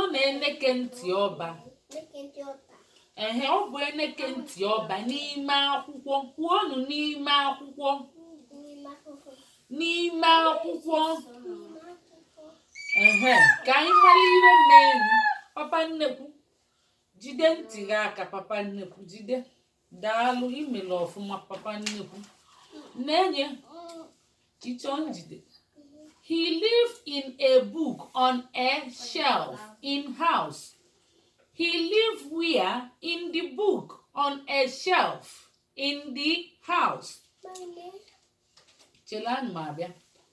ọ bụ eneke ntị ọba ehe ọ bụ eneke ntị ọba n'ime akwụkwọ kwuonụ n'ime akwụkwọ n'ime akwụkwọ ehe ka anyị mara ihe merenụ papa nnekwu jide ntị gị aka papa nnekwu jide daalụ imere ọfụma papa nnekwu nenee teacher njide he lived in a book on a shelf in house he lived where in the book on a shelf in the house chelụ na m abịa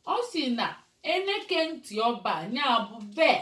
ọ sị na eneke ntị ọba nya bu ebee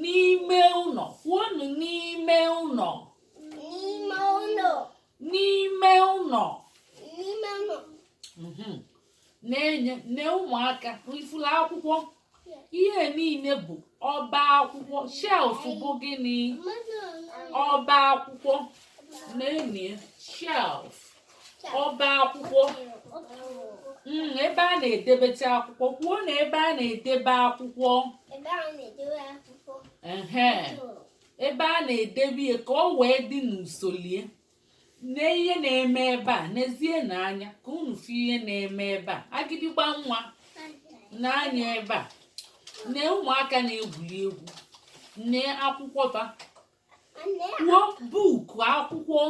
N'ime ụnọ. Kwuonụ n'ime ụnọ. N'ime ụnọ. N'ime ụnọ. N'ime ụnọ. Mhm. Nenee nee ụmụaka ị fụlụ akwụkwọ ihe niile bụ ọba akwụkwọ shelf bụ gịnị ọba akwụkwọ nenee shelf ọba akwụkwọ hmm, ebe a na-edebecha akwụkwọ kwuonụ ebe a na-edebe akwụkwọ ebe a na-edebe ya ka ọ wee dị n'usolo ya nee ihe na-eme ebe a nezienụ anya ka unu fụ ihe na-eme ebe a agịdịgba nwa nee anya ebe a nee ụmụaka na-egwuri egwu nee akwụkwọ ba kwuo buuku akwụkwọ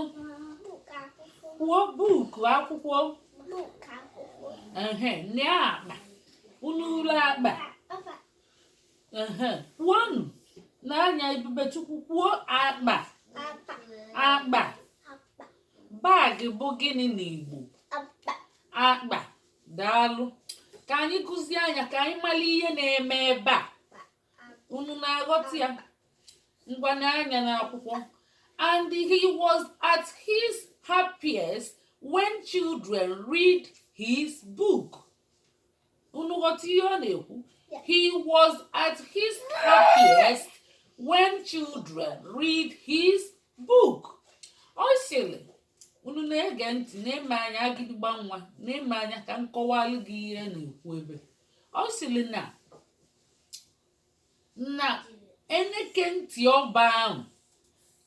kwuo buuku akwụkwọ ehe nee akpa unu fụlụ akpa ehe kwuonu nee anya ebubechukwu kwuo akpa akpa baagị bụ gịnị n'igbo akpa daalụ ka anyị gụzie nya ka anyị mara ihe na-eme ebe a unu na-aghọta ya ngwa nee anya n'akwụkwọ and he was at his happiest when children read his book unu ghọta ihe ọ na-ekwu he was at his happiest when children read his book ọ sịrị unu na-ege ntị nee m anya agịdịgba nwa nee m anya ka m kọwalụ gị ihe na-ekwu ebe ọ sịrị na na eneke ntị ọba ahụ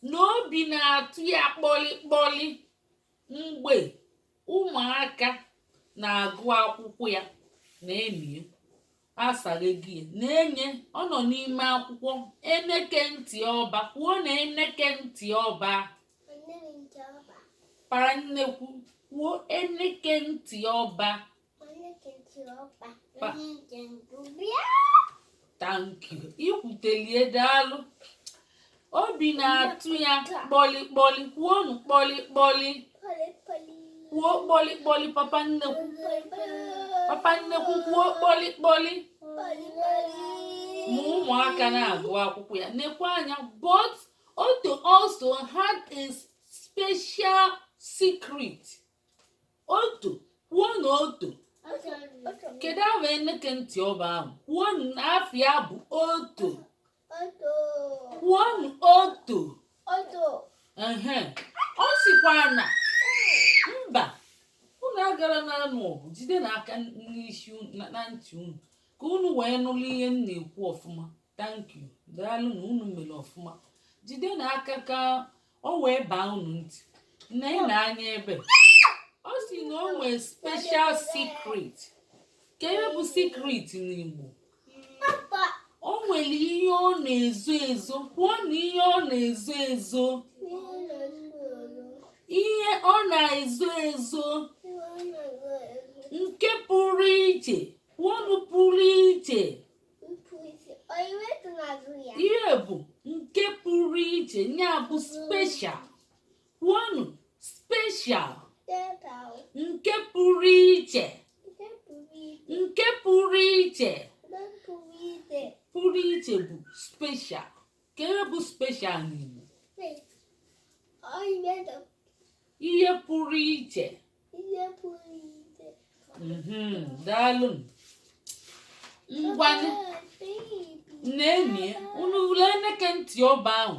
na obi na-atụ ya kpọlị kpọlị mgbe ụmụaka na-agụ akwụkwọ ya na-emie asaghị gị ya nenee ọ nọ n'ime akwụkwọ eneke ntị ọba kwuonụ eneke ntị ọba papa nnekwu kwuo eneke ntị ọba thank you ikwutelie daalụ obi na-atụ ya kpọlịkpọlị kwuonu kpọlịkpọlị kwuo kpọlịkpọlị papa nnekwu papa nnekwu kwuo kpọlịkpọlị ma ụmụaka na-agụ akwụkwọ ya nekwa anya but Otto also had a special secret Otto kwuo na Otto kedu ahụ eneke ntị ọba ahụ kwuo na afa ya bụ Otto kwuo na Otto ehe ọ sịkwa na mba unu agara na-anụ ọgụ jide n'aka n'isi unu- na na ntị unu ka unu wee nụrụ ihe m na-ekwu ọfụma thank you daalụnụ unu mere ọfụma jide na aka ka o wee baa unu ntị na-ene anya ebe ọ sị na o nwee special secret kee ihe bụ secret n'Igbo o nwere ihe ọ na-ezo ezo kwuo na ihe ọ na-ezo ezo ihe ọ na-ezo ezo nke pụrụ iche kwuonu pụrụ iche ihe bụ nke pụrụ iche ya bụ special kwuonụ special nke pụrụ iche nke pụrụ iche pụrụ iche bụ special kee ihe bụ special n'Igbo ihe pụrụ iche mhm, daalụ ngwanụ na-enye unu ule eneke ntị ọba ahụ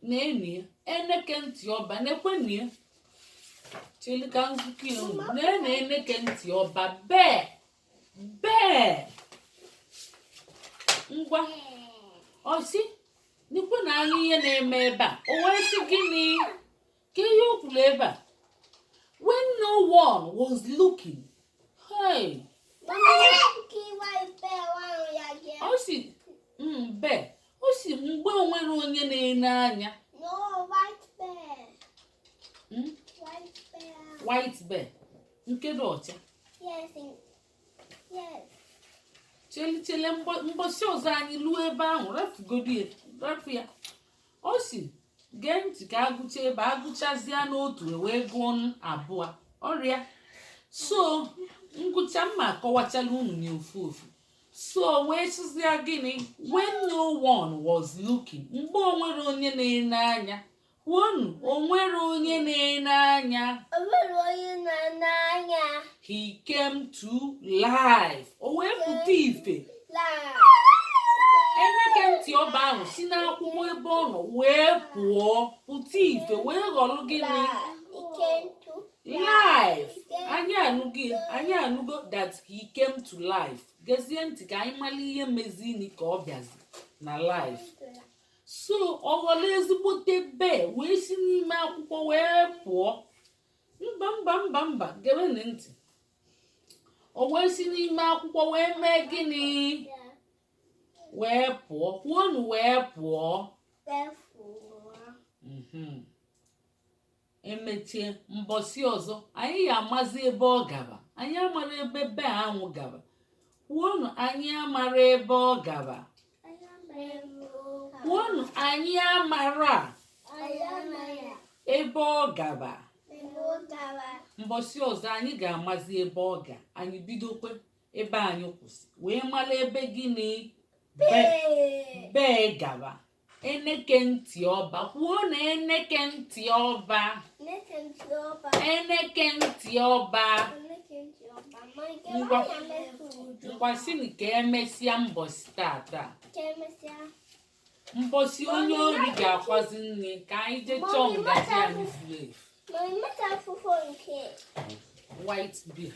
nenu ya eneke ntị ọba nekwanu ya chilika nzukọ ya unu nenu eneke ntị ọba bee bee ngwa ọ sị nekwanu anya ihe na-eme ebe a o wee sị gịnị kee ihe o kwuru ebe a when no one was looking hey ọ sị mbe ọ sị mgbe o nwerọ onye na-ene anya Hmm? white bear nke dị ọcha chelu chelu mbọsị ọzọ anyị luo ebe ahụ rafugodu ya rafu ya ọ sị gee ntị ka a gụcha ebe a gụchazịa n'otu e wee gụọ n'abụọ ọrịa so m gụcha m ma-akọwachala unu ya ofu ofu so wee sịzịa gịnị when no one was looking mgbe o nwerọ onye na-ene anya kwuonụ o nwerọ onye na-ene anya O nwerọ onye na-ene anya. he came to life o wee pụta ife eneke ntị ọba ahụ si n'akwụkwọ ebe ọ nọ wee pụọ pụta ife wee ghọrọ gịnị life anyị anụgo anyị anụgo that he came to life gezie ntị ka anyị mara ihe mezini ka ọ bịazi na life so ọ ghọrọ ezigbote bear wee si n'ime akwụkwọ wee pụọ mba mba mba mba gewenụ ntị o wee si n'ime akwụkwọ wee mee gịnị wee pụọ kwuonụ wee pụọ mhm. emechie mbọsị ọzọ anyị ya-amazi ebe ọ gaba anyị amara ebe bear ahụ gaba kwuonụ anyị amara ebe ọ gaba kwuonụ anyị amara ebe ọ gaba mbọsị ọzọ anyị ga-amazi ebe ọ ga anyị bidokwe ebe anyị kwụsị wee mara ebe gịnị bear gaba eneke ntị ọba kwuonụ eneke ntị ọba eneke ntị ọba ngwa ngwa sịnụ ka emesịa mbọsị tata mbọsị onye ori ga-akwazi nne ka anyị jee chọọ ngaji anyị furu efu white bear